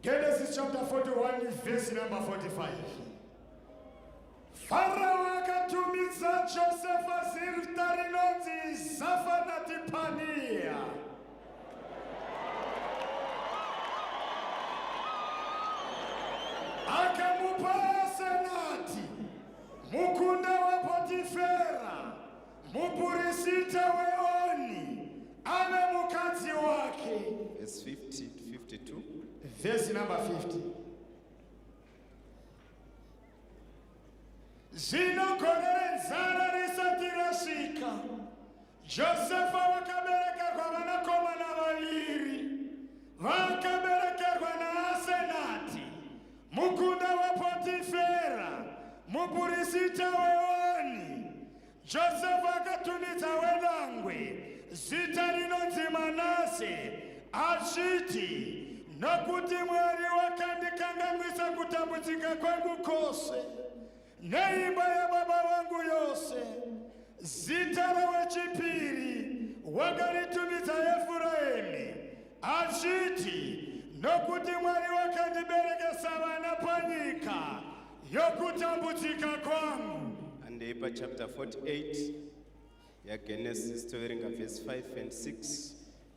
Genesis chapter 41 verse number 45. Farao akatumidza Josefa zita rinonzi Zafanatipania. Akamupa senati mukunda waPotifera. Mupurisita weOni ave mukadzi wake. Verse 50 to 52. Verse number 50. Zvino gore renzara risati rasvika, Josefa wakabereka kwavanakomana vaviri vakabereka Mukunda waPotifera, mupurisita weOni, Josefa akatumidza wedangwe zita rinonzi Manase, achiti, Nokuti Mwari wakandikanganwisa kutambudzika kwangu kwose, Neimba yababa vangu yose. Zita rewechipiri wakaritumidza Efuraimi, achiti, Nokuti Mwari wakandiberekesa vana panyika yokutambudzika kwangu. Handei pachapter 48 yaGenesis toverenga verse 5 and 6.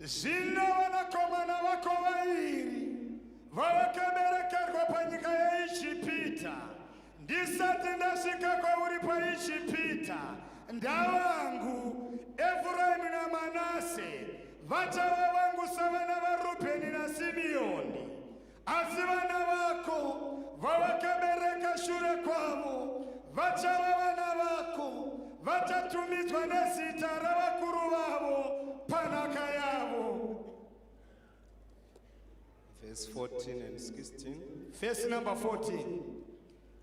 Zvino vanakomana vako vairi vawakaberekerwa panyika yeIjipita, ndisati ndasvika kwauri paIjipita, ndavangu Efuraimu naManase vachava vangu savana vaRubheni naSimiyoni. Asi vana vako vawakabereka shure kwavo vachava vana vako, vachatumidzwa nezita ravakuru vavo panhaka yavo. Verse 14 and 16. Verse number 14.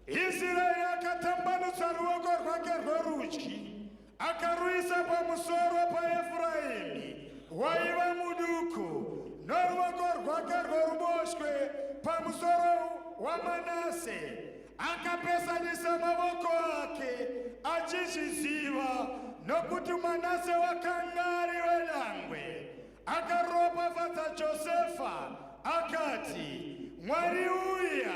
Isiraeri akatambanudza ruoko rwake rworudyi akaruisa pamusoro paEfuraimi waiva muduku noruoko rwake rworuboshwe pamusoro waManase akapesanisa mavoko ake achizviziva nokuti Manase wakanga ari wedangwe Akaropafadza Josefa akati, Mwari uya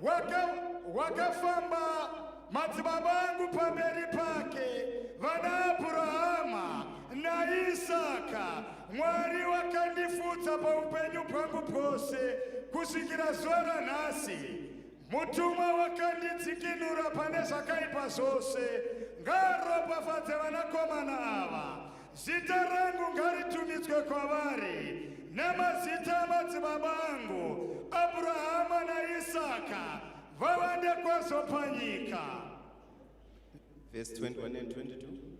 waka, wakafamba madzibaba angu pamberi pake, vana Abhurahama naIsaka. Mwari wakandifudza paupenyu bwangu bwose kusvikira zuva ranhasi. Mutumwa wakandidzikinura pane zvakaipa zvose. Ngaropafadze vanakomana ava. Zita rangu ngaritumidzwe kwavari nemazita amadzibaba angu Abrahama naIsaka vavande kwazvo panyika. Verse 21 and 22.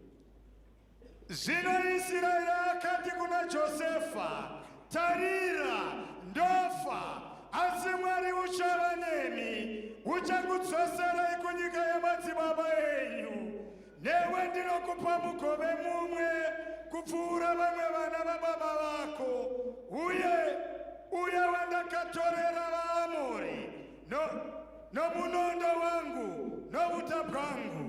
Zvino Isiraeri akati kuna Josefa, tarira, ndofa, asi Mwari uchava nemi, uchakudzoserai kunyika yamadzibaba enyu. Newe ndinokupa mugove mumwe kupfuura vamwe vana vababa vako, uye uye wandakatorera vaAmori no, nomunondo wangu nouta bwangu.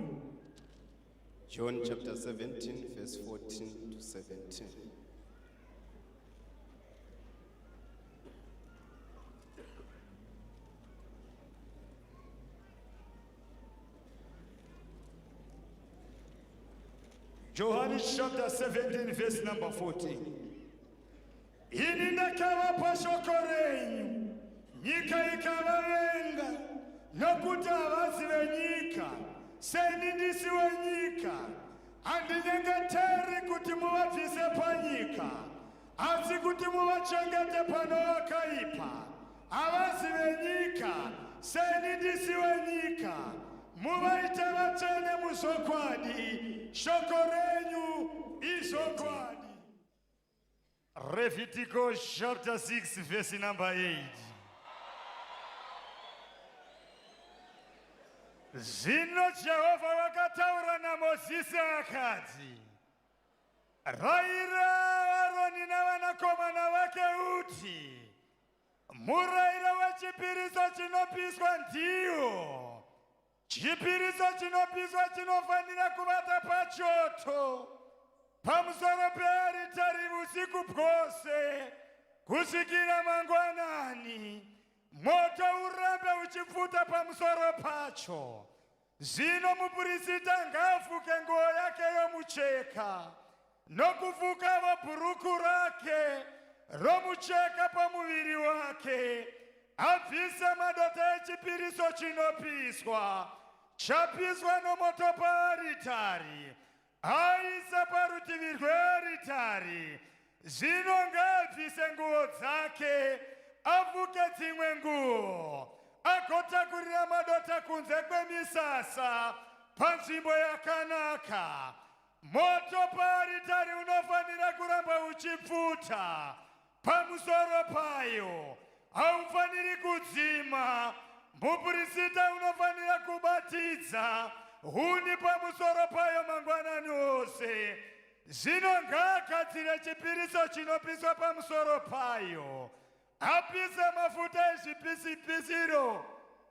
John chapter 17 verse 14 to 17. Johani chapter 17 verse number 14. Ini ndakavapa shoko renyu, nyika ikavavenga, nokuti havazi venyika, seni ndisi wenyika. Handinyengeteri kuti muvabvise panyika, asi kuti muvachengete pano vakaipa. Havasi venyika, seni ndisi wenyika. Muvaite vatsvene muzvokwadi, shoko renyu izvokwadi. Revhitiko chapter 6 vhesi number 8. Zvino Jehovha vakataura naMozisi akati, Raira Aroni navanakomana vake uti, Murairo wechipiriso chinopiswa ndiwo chipiriso chinopiswa chinofanira kuvata pachoto pamusoro pearitari usiku bwose kusvikira mangwanani moto urambe uchipfuta pamusoro pacho Zvino mupurisita ngaafuke nguo yake yomucheka nokufukavo bhuruku rake romucheka pamuviri wake abvise madota echipiriso chinopiswa chapiswa nomoto paaritari Aisa parutivi rwearitari, zvino ngaabvise nguo dzake, afuke dzimwe nguo, agotakurira madota kunze kwemisasa panzvimbo yakanaka. Moto paaritari unofanira kuramba uchipfuta. Pamusoro payo, haufaniri kudzima. Mupurisita unofanira kubatidza huni pamusoro payo mangwanani ose. Zvino ngaagadzire chipiriso chinopiswa pamusoro payo, apise mafuta ezvipisipisiro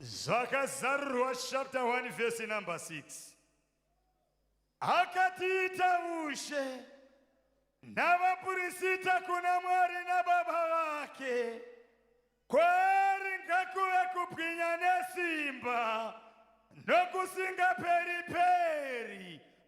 Zvakazarurwa chapter 1 verse number 6. Akatiita ushe navapurisita kuna Mwari naBaba vake. Kwaari ngakuve kupwinya nesimba nokusingaperi peri.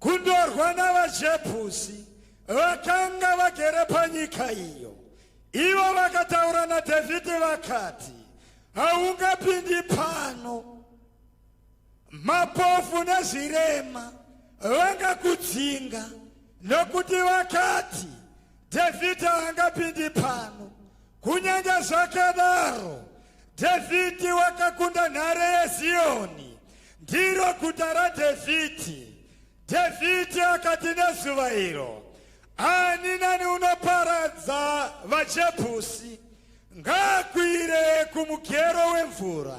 Kundorwa navaJebhusi vakanga vagere panyika iyo. Ivo vakataura naDhavhidhi vakati, Haungapindi pano. Mapofu nezvirema vangakudzinga, nokuti vakati, Dhavhidhi haangapindi pano. Kunyange zvakadaro, Dhavhidhi wakakunda nhare yeZiyoni, ndiro guta raDhavhidhi. Dhavhidhi akati nezuva iro, Ani nani unoparadza vaJebhusi, ngaakwire kumugero wemvura.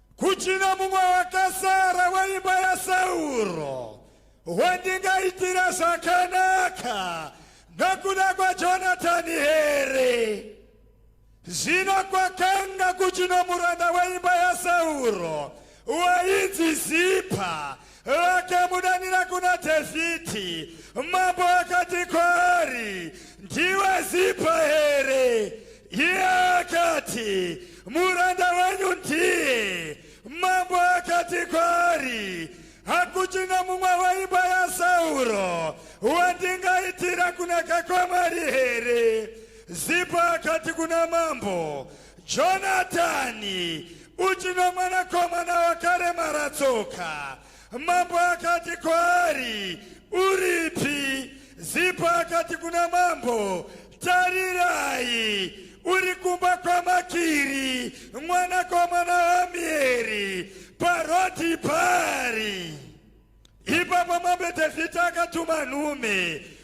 Kuchina mumwe wakasara weimba yaSauro wandingaitira zvakanaka nokuda kwaJonatani here? Zvino kwakanga kuchino muranda weimba yaSauro wainzi Zipa vakamudanira kuna Dhavhidhi. Mambo akati kwaari, ndiwe Zipa here? Iye akati, Muranda wenyu ndiye. Mambo akati kwaari, Hakuchina mumwe weimba yaSauro wandingaitira kunaka kwaMwari here? Zipa akati kuna mambo, Jonatani, uchino mwanakomana wakaremara tsoka. Mambo akati kwaari, Uripi? Zipa akati kuna mambo, Tarirai, uri kumba kwaMakiri mwanakomana waAmieri paroti pari. Ipapo mambo Dhevhidhi akatuma nhume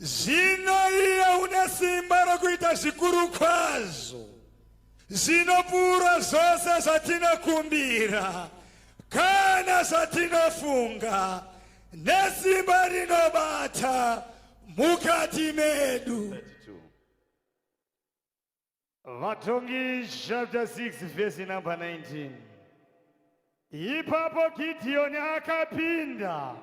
Zvino iye une simba rokuita zvikuru kwazvo zvinopfuura zvose zvatinokumbira kana zvatinofunga nesimba rinobata mukati medu Vatongi chapter 6 verse number 19. Ipapo Gideoni akapinda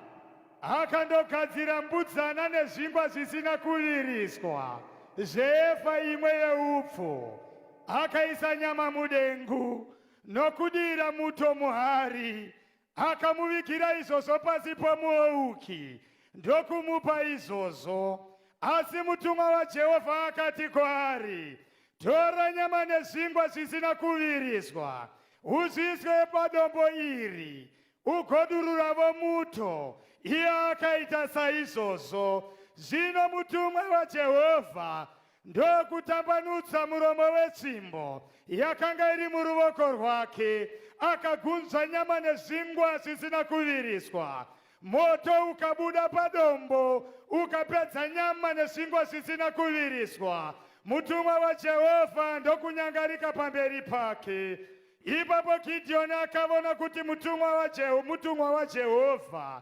akandogadzira mbudzana nezvingwa zvisina kuviriswa zveefa imwe yeupfu akaisa nyama mudengu nokudira muto muhari Akamuvigira izvozvo pasi pomuouki ndokumupa izvozvo. Asi mutumwa waJehovha akati kwaari, Tora nyama nezvingwa zvisina kuviriswa, uzviiswe padombo iri, ugodururavo muto. Iye akaita saizvozvo. Zvino mutumwa waJehovha ndokutambanudza muromo wetsvimbo yakanga iri muruvoko rwake akagunzva nyama nezvingwa zvisina kuviriswa moto ukabuda padombo ukapedza nyama nezvingwa zvisina kuviriswa mutumwa wajehovha ndokunyangarika pamberi pake ipapo gidhiyoni akavona kuti mutumwa wajehovha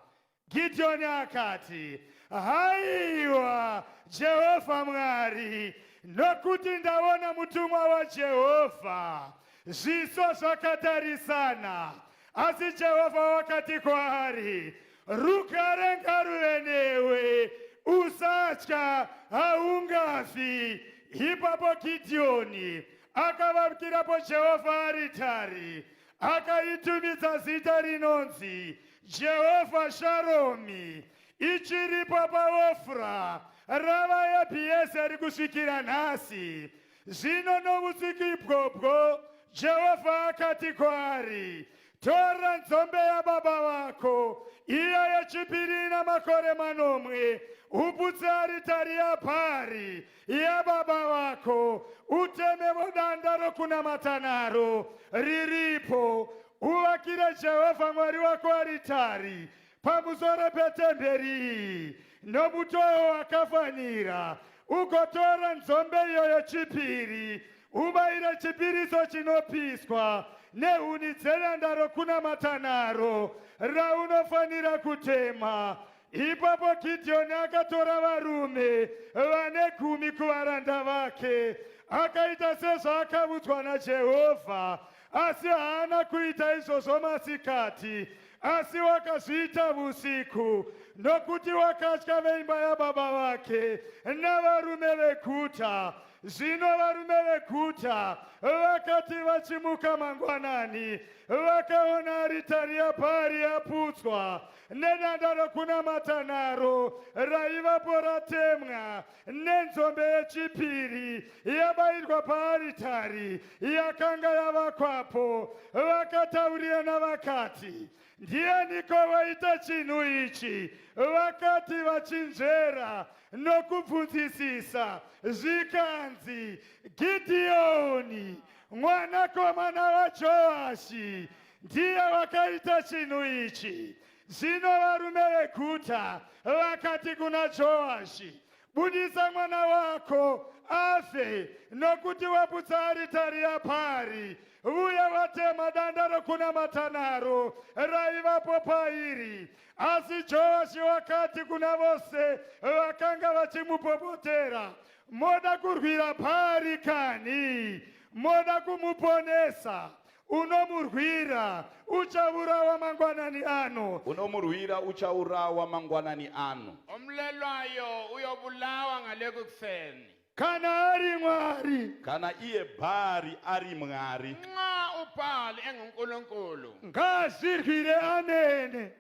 Gideoni akati, haiwa Jehovha Mwari, nokuti ndaona mutumwa waJehovha, zviso zvakatarisana. Asi Jehovha wakati kwaari, rugare ngaruve newe, usatya, haungafi. Ipapo Gideoni akavakirapo Jehovha aritari akaitumidza zita rinonzi jehovha sharomi ichiripo paofra rava yebhiezeri kusvikira nhasi zvino novutsiki ibwobwo jehovha akati kwaari tora nzombe yababa vako iya yechipiri ina makore manomwe uputse aritari yabhari yababa vako utemevo danda rokunamata naro riripo uvakire jehovha mwari wako aritari pamusoro petemberi iyi nomutowo wakafanira ugotora nzombe iyoyo chipiri ubayire chipiriso chinopiswa nehuni dzenanda rokunamata naro raunofanira kutema Ipapo Gidhiyoni akatora varume vane gumi kuvaranda vake, akaita sezvaakavudzwa naJehovha, asi haana kuita izvozvo masikati, asi wakazviita vusiku, nokuti wakatya veimba yababa vake navarume veguta. Zvino varume veguta vakati vachimuka mangwanani, vakaona aritari yaBhaari yaputswa, nedanda rokunamata naro raivapo ratemwa nenzombe yechipiri yabairwa paaritari yakanga yavakwapo vakataurirana vakati ndianiko vaita chinhu ichi vakati vachinzvera nokubvunzisisa zvikanzi gidhiyoni mwanakomana wajoashi Ndiye wakaita chinhu ichi. Zvino varume veguta vakati kuna Joashi, budisa mwana wako afe, nokuti waputsa aritari yapari, uye watema danda rokunamata naro raivapo pairi. Asi Joashi wakati kuna vose vakanga vachimupopotera, moda kurwira pari kani? Moda kumuponesa? unomurwira uchaurawa mangwanani ano unomurwira uchaurawa mangwanani ano omlelwayo uyobulawa ngale kukuseni kana ari mwari kana iye bhari ari mwari nxa ubhali engunkulunkulu ngazirwire amene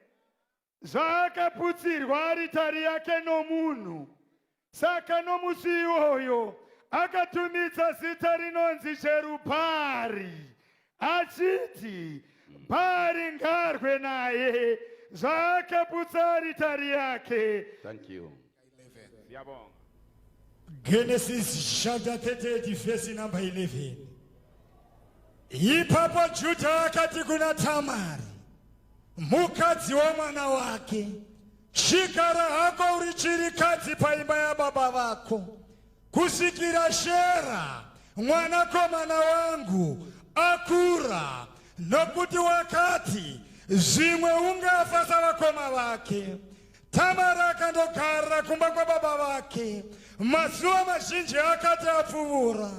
zvaakaputsirwa aritari yake nomunhu. Saka nomusi iwoyo akatumidza zita rinonzi Jerubhaari achiti Bhaari ngarwe naye zvaakaputsa aritari yake. Thank you. Siyabonga. Genesis chapter 38 verse number 11. Ipapo Juda akati kuna Tamari mukadzi wemwana wake chigara hako uri chirikadzi paimba yababa vako kusvikira Shera mwanakomana wangu akura nokuti wakati zvimwe ungafa savakoma vake Tamara akandogara kumba kwababa vake mazuva mazhinji akati apfuvura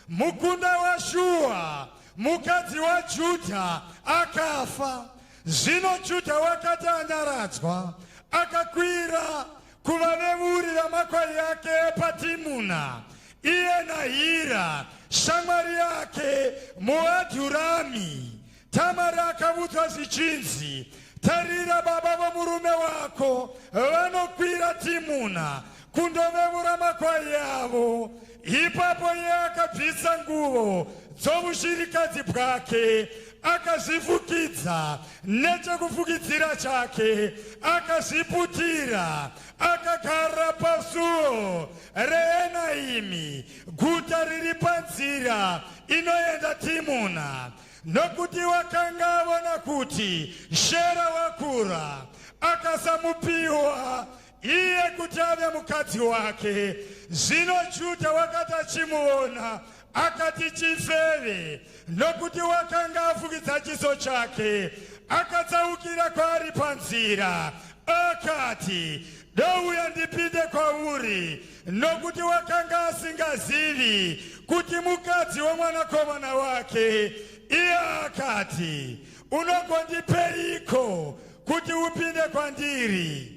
mukunda washuwa mukadzi wajudha akafa zvino judha wakati anyaradzwa akakwira kuvavevuri vamakwai yake epatimuna iye nahira shamwari yake muadhurami Tamari akavudzwa zvichinzi, Tarira, baba vomurume wako vanokwira Timuna kundovevura makwai avo. Ipapo iye akabvisa nguvo dzovushirikadzi bwake akazvifukidza nechekufukidzira chake akazviputira akagara pasuo reenaimi guta riri panzira inoenda timuna Nokuti wakanga avona kuti Shera wakura, akasamupiwa iye kuti ave mukadzi wake. Zvino Judha wakati achimuvona, akati, Chifeve, nokuti wakanga afukidza chiso chake. Akatsaukira kwaari panzira, akati, Douya ndipinde kwauri. nokuti wakanga asingazivi kuti mukadzi wemwanakomana wake iye akati unogondipeiko kuti upinde kwandiri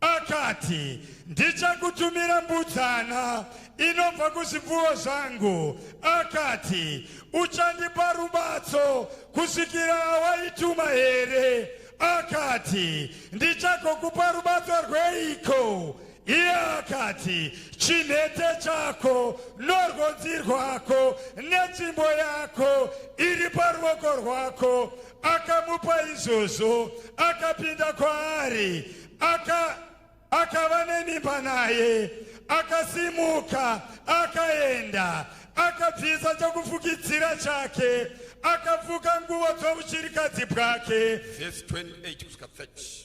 akati ndichakutumira mbudzana inobva kuzvipfuwo zvangu akati uchandipa rubatso kusvikira awaituma here akati ndichagokupa rubatso rweiko Iye akati, Chinhete chako norwodzi rwako netsvimbo yako iri paruoko rwako. Akamupa izvozvo, akapinda kwaari, aka akava nemimba naye, akasimuka akaenda, akabvisa chokufukidzira chake, akafuka nguvo dzouchirikadzi bwake. Verse 28 kusvika 30.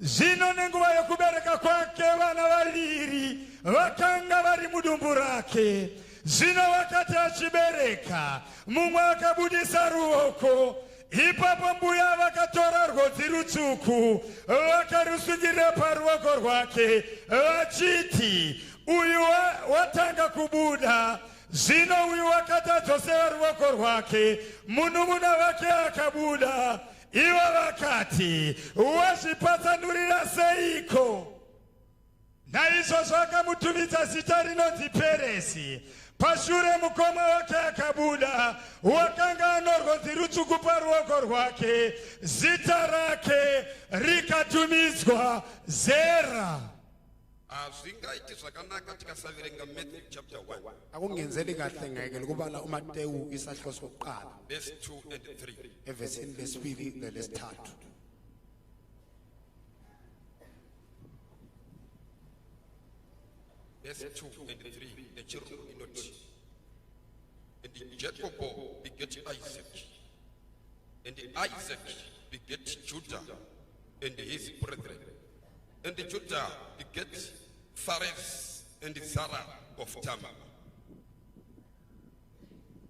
Zvino nenguva yokubereka kwake vana vaviri vakanga vari mudumbu rake. Zvino wakati achibereka, mumwe akabudisa ruoko. Ipapo mbuya vakatora rwodzi rutsvuku vakarusungirira paruoko rwake vachiti, uyu watanga kubuda. Zvino uyu wakati adzosera ruoko rwake, munun'una wake akabuda. Ivo vakati, Wazvipatsanurira seiko? Naizvozvo akamutumidza zita rinonzi Peresi. Pashure mukoma wake akabuda, wakanga anorwodzi rutsvuku paruoko rwake, zita rake rikatumidzwa Zera. Hazvingaiti zvakanaka tikasaverenga Matthew chapter 1. Akungenzeli kahle ngeke lokubala uMatewu isahlo sokuqala. Verse 2 and 3. Evesini lesibili nelesithathu. Verse 2 and 3 nechirungu inoti and Jacob begat Isaac and Isaac begat Judah and his brethren and Judah begat Phares and Zara of Tamar.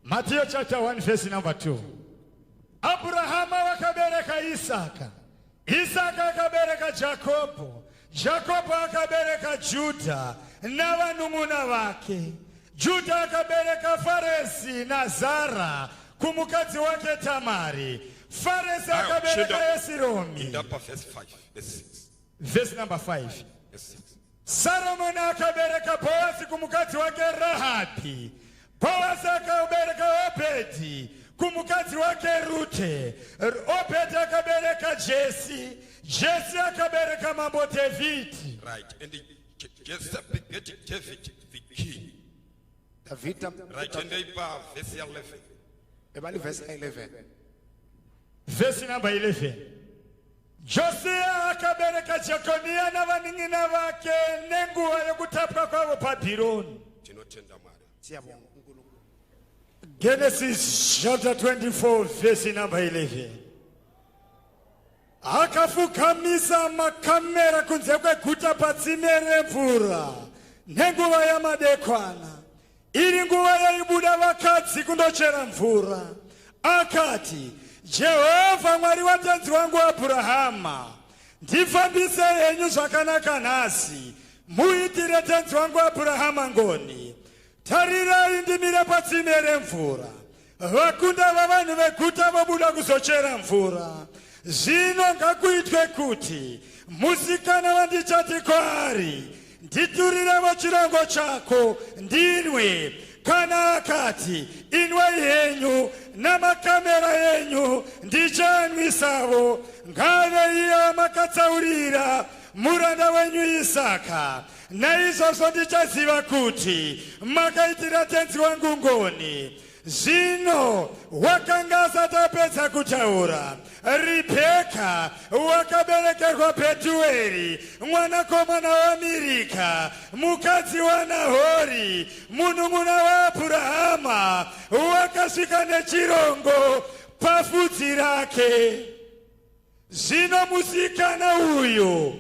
Matthew chapter 1 verse number 2. Abrahama wakabereka Isaka. Isaka akabereka Jakobo. Jakobo akabereka Juda navanun'una vake. Juda akabereka Faresi naZara kumukadzi wake Tamari. Faresi akabereka Esiromi. Indapa verse 5. vhesi number 5 saromoni akabereka bhoazi kumukadzi wake rahabhi bhoazi akabereka obhedhi kumukadzi wake rute obhedhi akabereka jesi jesi akabereka mambo dhavhidhi right. and jesi begat david the king dhavhidhi right. and ipa vhesi 11 ebali vhesi 11 vhesi number 11 Josiya akabereka Jekoniya navanin'ina vake nenguva yokutapwa kwavo Bhabhironi. Tinotenda Mwari. Siyabonga. Genesis chapter 24 verse number 11. Akafukamisa makamera kunze kweguta patsime remvura nenguva yamadekwana. Iri nguva yaibuda vakadzi kundochera mvura, akati, Jehovha Mwari watenzi wangu Abhurahama, ndifambise henyu zvakanaka nhasi, muitire tenzi wangu Abhurahama ngoni. Tarirai ndimire patsime remvura. Vakunda vavanhu veguta vobuda kuzochera mvura. Zvino ngakuitwe kuti musikana wandichati kwaari, nditurirevo chirango chako ndinwe kana akati inwai henyu namakamera enyu ndichanwisavo ngave iya makatsaurira muranda wenyu isaka Naizvozvo ndichaziva kuti makaitira tenzi wangu ngoni. Zvino wakanga asati apedza kutaura, Ribheka wakaberekerwa Bhetueri, mwanakomana waMirika, mukadzi waNahori, munun'una waAbhurahama, wakasvika nechirongo pafudzi rake. Zvino musikana uyu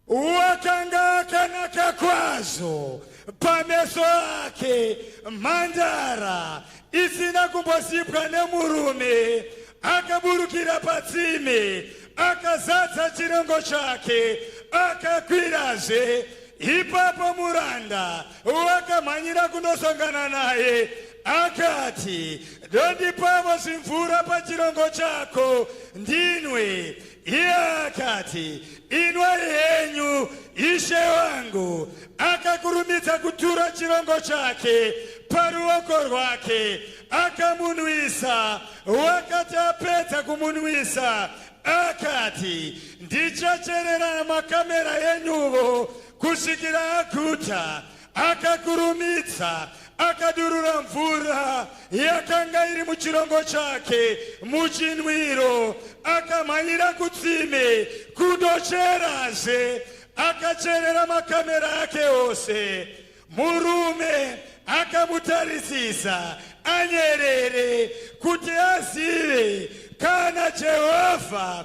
Wakanga akanaka kwazvo pameso ake mhandara isina kumbosipwa nemurume akaburukira patsime akazadza chirongo chake akakwirazve ipapo muranda wakamhanyira kunosongana naye akati dondipavo zvimvura pachirongo chako ndinwe Iye akati, Inwai henyu, ishe wangu. Akakurumidza kutura chirongo chake paruoko rwake, akamunwisa. Wakati apedza kumunwisa, akati, Ndichacherera makamera enyuvo kusvikira aguta. Akakurumidza akadurura mvura yakanga iri muchirongo chake muchinwiro, akamhanyira kutsime kundocherazve. Akacherera makamera ake ose. Murume akamutarisisa anyerere kuti azive kana Jehovha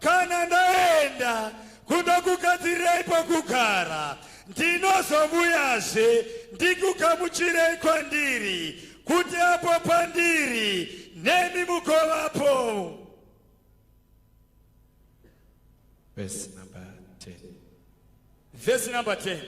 Kana ndaenda kundokugadzirirai pokugara, ndinozovuyazve ndikugamuchirei kwandiri, kuti apo pandiri nemi mugovapo. Verse number 10. Verse number 10.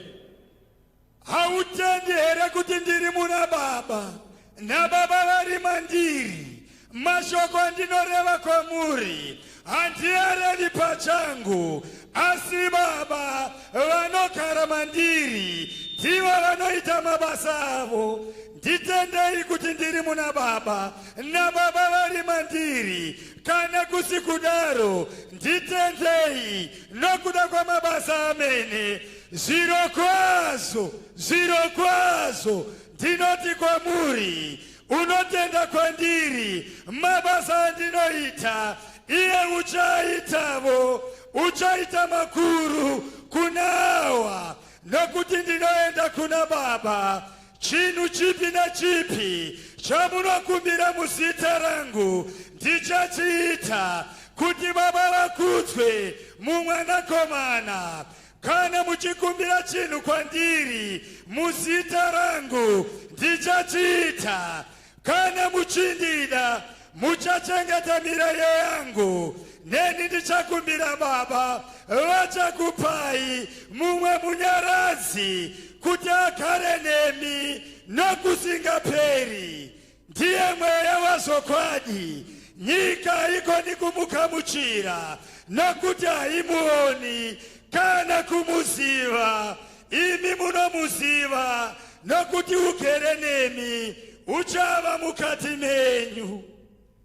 Hautendi here kuti ndiri muna baba nababa vari mandiri? Mashoko andinoreva kwamuri handiareri pachangu, asi baba vanogara mandiri ndivo vanoita mabasa avo. Nditendei kuti ndiri muna baba nababa vari mandiri, kana kusi kudaro nditendei nokuda kwamabasa amene Zvirokwazvo, zvirokwazvo ndinoti kwamuri, unotenda kwandiri, mabasa andinoita iye uchaitavo, uchaita makuru kunawa, nokuti ndinoenda kuna Baba. Chinhu chipi nechipi chamunokumbira muzita rangu ndichachiita, kuti Baba vakudzwe mumwanakomana. Kana muchikumbira chinhu kwandiri muzita rangu ndichachiita. Kana muchindida muchachengeta mirayiro yangu, neni ndichakumbira Baba, vachakupai mumwe munyaradzi kuti agare nemi nokusingaperi, Ndiye mweya wazvokwadi, nyika haigoni kumugamuchira, nokuti haimuoni kana kumuziva. Imi munomuziva, nokuti ugere nemi, uchava mukati menyu.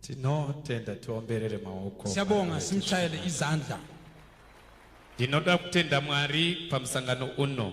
Tinotenda, tiomberere maoko. Siyabonga, simchayele izandla. Ndinoda kutenda Mwari pamusangano uno.